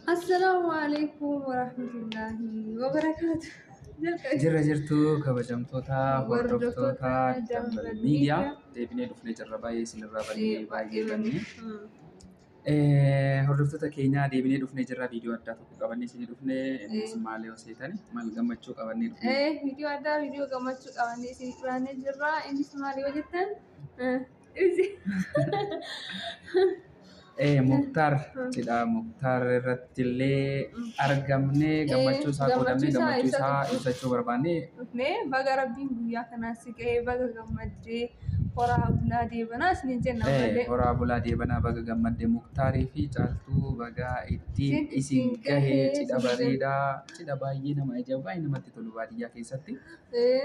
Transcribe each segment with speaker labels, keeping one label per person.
Speaker 1: Assalaamu alaikum warahmatullaahi wabarakaatu. Jalqabe. Jirra jirtu
Speaker 2: kabajamtoota hordoftoota Dambal Miidiyaa deebinee dhufnee jirra baay'ee isinirraa bannee baay'ee bannee. Eh, Hordoftoota keenyaa deebinee dhufnee jirra viidiyoo addaa tokko qabannee isinii dhufne innis maal yoo seetani maal gammachuu qabannee dhufne. Eh, viidiyoo addaa viidiyoo
Speaker 1: gammachuu qabannee isin dhiyaannee jirra. Innis maal yoo jettan eh,
Speaker 2: Ee Muktaar cidhaa Muktaar irratti illee argamnee gammachuu isaa qoodamnee gammachuu isaa ibsachuu barbaanne. Mee baga
Speaker 1: rabbiin guyyaa kanaa si ga'ee baga gammaddee horaa bulaa deebanaa isiniin jenna Ee malee. horaa bulaa deebanaa
Speaker 2: baga gammadde Muktaarii fi caaltuu bagaa ittiin Isin isin isin gahee gahee cidha isin bareedaa cidha baay'ee nama ajaa'ibu baay'ee namatti tolu baadiyyaa keessatti. Ee.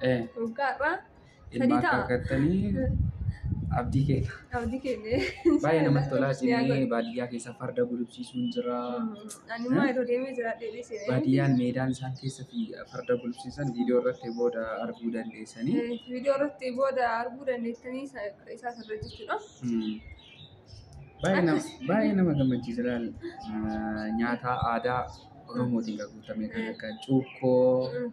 Speaker 1: Eh, Waggaa har'aa sadii ilmaa ta'a.
Speaker 2: kaakkattanii abdii keenya. Abdii keenya.
Speaker 1: Baay'ee namatti tolaa
Speaker 2: Ni isinii haguugu. baadiyyaa keessa farda gulufsiisuun jira. Ani immoo yeroo
Speaker 1: deemee jira deebiin seenee. Baadiyyaan meedaan isaan
Speaker 2: keessatti farda gulufsiisan viidiyoo irratti booda arguu dandeessanii. Viidiyoo irratti
Speaker 1: booda arguu dandeessanii isa- isaa sirra jechuudha. Hmm. Baay'ee nama-
Speaker 2: Akkas. baay'ee nama gammachiisa laal. Ah, Nyaata aadaa Oromootiin kan guutame kan akka cuukkoo, Mm.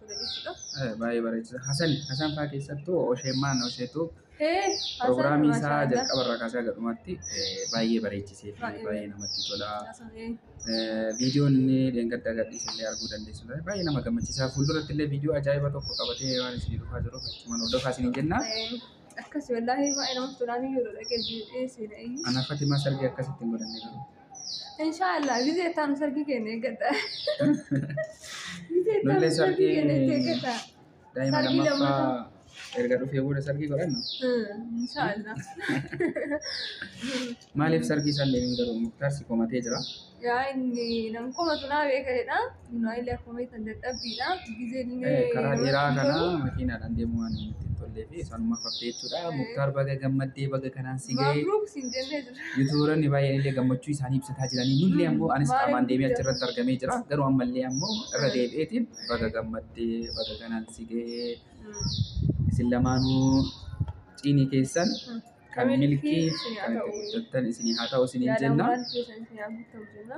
Speaker 1: Baay'ee bareechisa.
Speaker 2: Hasan Hasan fa'aa keessattuu Osheemmaan Osheetu pirogiraamii isaa jalqaba irraa kaasee haga dhumaatti baay'ee bareechisee fi baay'ee namatti tola. Viidiyoon inni dheengadda gadhiise illee arguu dandeessu ture. Baay'ee nama gammachiisa. Fuulduratti illee viidiyoo ajaa'iba tokko qabatee waan isinii dhufaa jiruuf achumaan hordofaa isiniin jenna. Akkasi
Speaker 1: wallaahi baay'ee namatti tolaan iyyuu dhaqee jiru dhiyeessee na iyyu. Ana Fatimaa sargii
Speaker 2: akkasitti hin godhanne garuu. Inshaallah
Speaker 1: gizee taam sargii keenya eeggata. Gizee taam
Speaker 2: Nullee sargii sargii keenya itti eeggata. daa'ima Sargii lammaffaa lammataa. erga dhufee booda sargii godhanna. Hmm, Inshaallah. Maaliif sargii san deemin garuu muktaar si komatee jira. Yaa inni
Speaker 1: nam komatu naa beeka jedha. Naayilaa koomee kan dadhabbiidha. Gizee dinee. karaa
Speaker 2: dheeraa kana makiinaadhaan deemuu waan hin ittiin tollee fi sanuma fakkee jechuudha. Muktaar baga gammaddee baga kanaan si ga'e. Mabruuk siin jennee jira. Yuutuubaronni baay'een illee gammachuu isaanii ibsataa jiranii nullee ammoo anis qaamaan deemee achirratti argamee jira. Garuu ammallee ammoo irra deebi'eetiin baga gammaddee baga kanaan si ga'e. Isin lamaanuu ciinii keessan kan milkii kan itti guddattan isinii haa ta'u isiniin jenna. Yaadawwan keessan isinii haa guuttamu jenna.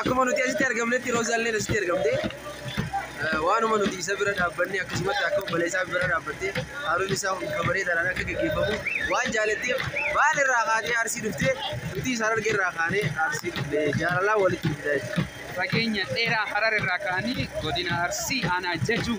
Speaker 3: Akkuma nuti asitti argamnetti Roozaalleen asitti argamte. Waanuma nuti isa bira dhaabbanne akkasumatti akka obboleessaa bira dhaabbatte haaluun isaa hundi kabareedhaan akka gaggeeffamu waan jaalatteef baal irraa kaatee arsii dhuftee nuti isaan arge irraa kaanee arsii dhufne jaalalaan walitti dhufne jechuudha. Fageenya dheeraa
Speaker 2: harar irraa ka'anii godina Arsii aanaa Jajuu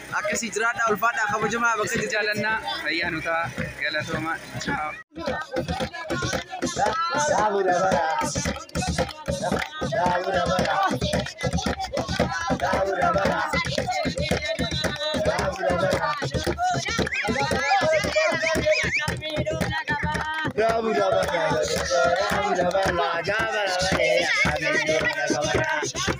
Speaker 2: Akkasii jiraadhaa
Speaker 3: ulfaadhaa kabajamaa bakka Isin jirtan. jaalanna fayyaa
Speaker 2: nu ta'a galatooma ciao. Gaabura balaa gaabura balaa gaabura balaa.